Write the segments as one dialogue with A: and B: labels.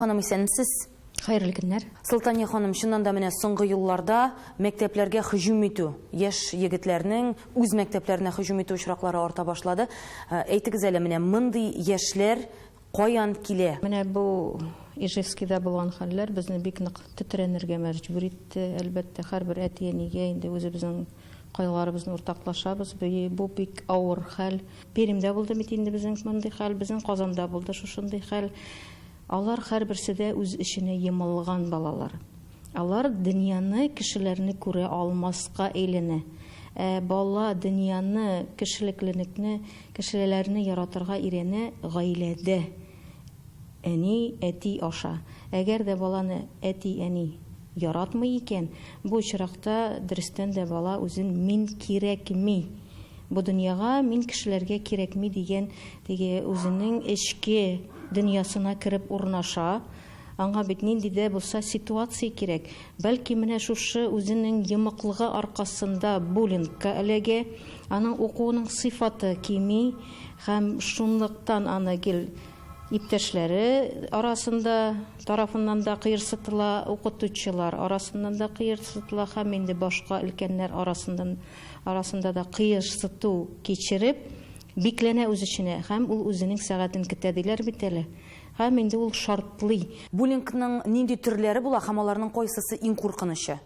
A: Ханым исәнмсез! Хәерле көннәр!
B: Солтания ханым, чыннан
A: да менә соңгы елларда мәктәпләргә һөҗүм итү, яшь егетләрнең үз мәктәпләренә һөҗүм итү очраклары арта башлады. Әйтегез әле, менә мондый яшьләр каян килә? Менә бу
B: Ижевскида булган хәлләр безне бик нык тетрәнергә мәҗбүр итте. Әлбәттә, һәрбер әти-әнигә инде үзебезнең Кайгыларыбызны уртаклашабыз. Бу бик авыр хәл. Пермьдә булды бит инде безнең мондый хәл, безнең Казанда булды шушындый хәл. Алар һәрберсе дә үз эченә йомылган балалар. Алар дөньяны, кешеләрне күрә алмаска әйләнә. Ә бала дөньяны, кешелекленекне, кешелеләрне яратырга өйрәнә гаиләдә. Әни, әти аша. Әгәр дә баланы әти, әни яратмый икән, бу очракта дөрестән дә бала үзен мин кирәкми, бу дөньяга мин кешеләргә кирәкми дигән теге үзенең эчке дөньясына кереп урнаша. Аңа бит нинди дә булса ситуация кирәк. Бәлки менә шушы үзенең йомыклыгы аркасында буллингка эләгә, аның укуының сыйфаты кими һәм шунлыктан аны гел иптәшләре арасында тарафыннан да кыерсытыла, укытучылар арасыннан да кыерсытыла һәм инде башка өлкәннәр арасыннан арасында да кыерсыту кичереп, бикләнә үз эченә һәм ул үзенең сәгатен көтә диләр бит әле. Һәм инде ул шартлый. Буллингның
A: нинди төрләре була һәм аларның кайсысы иң куркынычы?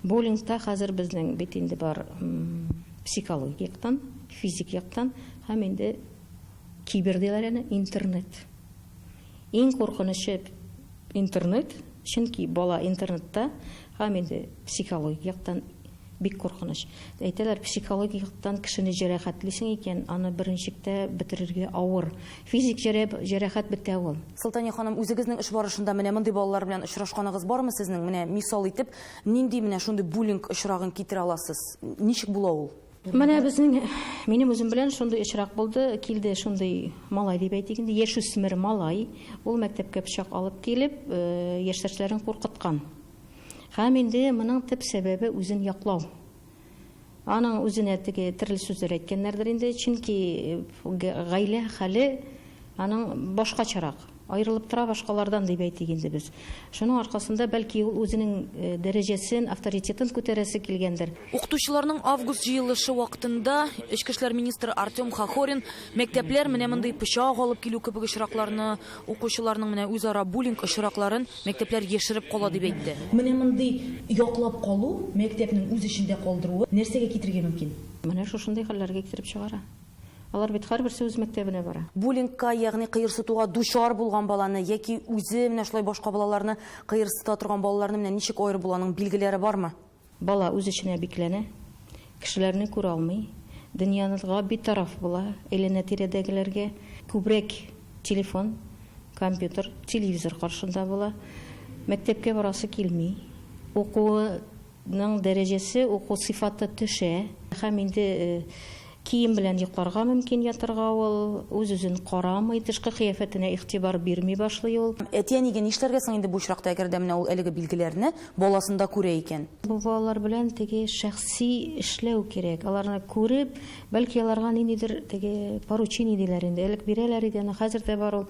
A: Буллингта
B: хәзер безнең бит инде бар психологик яктан, физик яктан һәм инде кибер диләр әле, интернет. Иң куркынычы интернет, чөнки бала интернетта һәм инде психологик яктан, Бик куркыныч. Әйтәләр, психологик яктан кешене җәрәхәтлисең икән, аны беренчектә бетерергә авыр. Физик җәрәхәт бетә ул. Солтания ханым, үзегезнең
A: эш барышында менә мондый балалар белән очрашканыгыз бармы сезнең? Менә мисал итеп, нинди менә шундый буллинг очрагын китерә аласыз? Ничек була ул? Менә безнең,
B: минем үзем белән шундый очрак булды. Килде шундый малай дип әйтик инде, яшүсмер малай. Ул мәктәпкә пычак алып килеп, яшьтәшләрен куркыткан. Һәм инде моның төп сәбәбе үзен яклау. Аның үзенә теге терле сүзләр әйткәннәрдер инде, чөнки гаилә хәле аның башкачарак, аерылып тора башкалардан, дип әйтик инде без. Шуның аркасында, бәлки, ул үзенең дәрәҗәсен, авторитетын күтәрәсе килгәндер. Укытучыларның
A: август җыелышы вакытында эчке эшләр министры Артем Хохорин мәктәпләр менә мондый пычак алып килү кебек очракларны, Укучыларның менә үзара буллинг очракларын мәктәпләр яшереп кала, дип әйтте. Менә мондый яклап калу, мәктәпнең үз эчендә калдыруы нәрсәгә китерергә мөмкин? Менә шушындый хәлләргә
B: китереп чыгара. Алар бит һәрберсе үз мәктәбенә бара. Буллингка, ягъни
A: кыерсытуга дучар булган баланы яки үзе менә шулай башка балаларны кыерсыта торган балаларны менә ничек аерып буланың билгеләре бармы? Бала үз эченә
B: бикләнә, кешеләрне күрә алмый, дөньяга битараф була, әйләнә-тирәдәгеләргә күбрәк телефон, компьютер, телевизор каршында була. Мәктәпкә барасы килми. Укуының дәрәҗәсе, уку сыйфаты төшә. Һәм инде Кием белән йокларга мөмкин ятарга ул, үз-үзен карамый, тышкы кыяфәтенә игътибар бирми башлый ул. Әти-әнигә нишләргә соң
A: инде бу очракта, әгәр дә менә ул әлеге билгеләрне баласында күрә икән? Бу балалар белән
B: теге шәхси эшләү кирәк. Аларны күреп, бәлки аларга ниндидер теге поручение диләр инде, элек бирәләр иде, аны хәзер дә бар ул.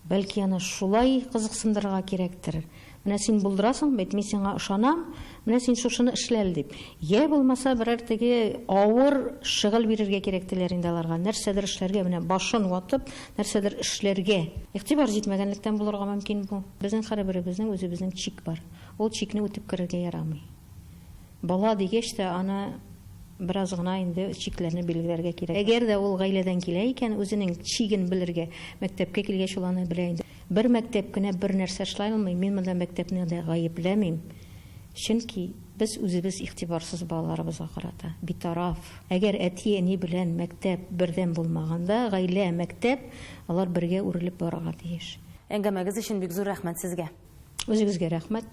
B: Бәлки аны шулай кызыксындырырга кирәктер. Менә син булдырасың бит, мин сиңа ышанам, менә син шушыны эшлә әле дип. Йә булмаса берәр теге авыр шөгыль бирергә кирәк диләр инде аларга. Нәрсәдер эшләргә, менә башын ватып, нәрсәдер эшләргә. Игътибар җитмәгәнлектән булырга мөмкин бу. Безнең һәрберебезнең үзебезнең чик бар. Ул чикне үтеп керергә ярамый. Бала дигәч тә, аны бераз гына инде чикләрне билгеләргә кирәк. Әгәр дә ул гаиләдән килә икән, үзенең чиген белергә. Мәктәпкә килгәч, ул аны белә инде. Бер мәктәп кенә бер нәрсә эшләй алмый, мин монда мәктәпне дә гаепләмим, чөнки без үзебез игътибарсыз балаларыбызга карата, битараф. Әгәр әти-әни белән мәктәп бердәм булмаганда, гаилә, мәктәп, алар бергә
A: үрелеп
B: барырга
A: тиеш. Әңгәмәгез өчен
B: бик зур
A: рәхмәт сезгә!
B: Үзегезгә
A: рәхмәт!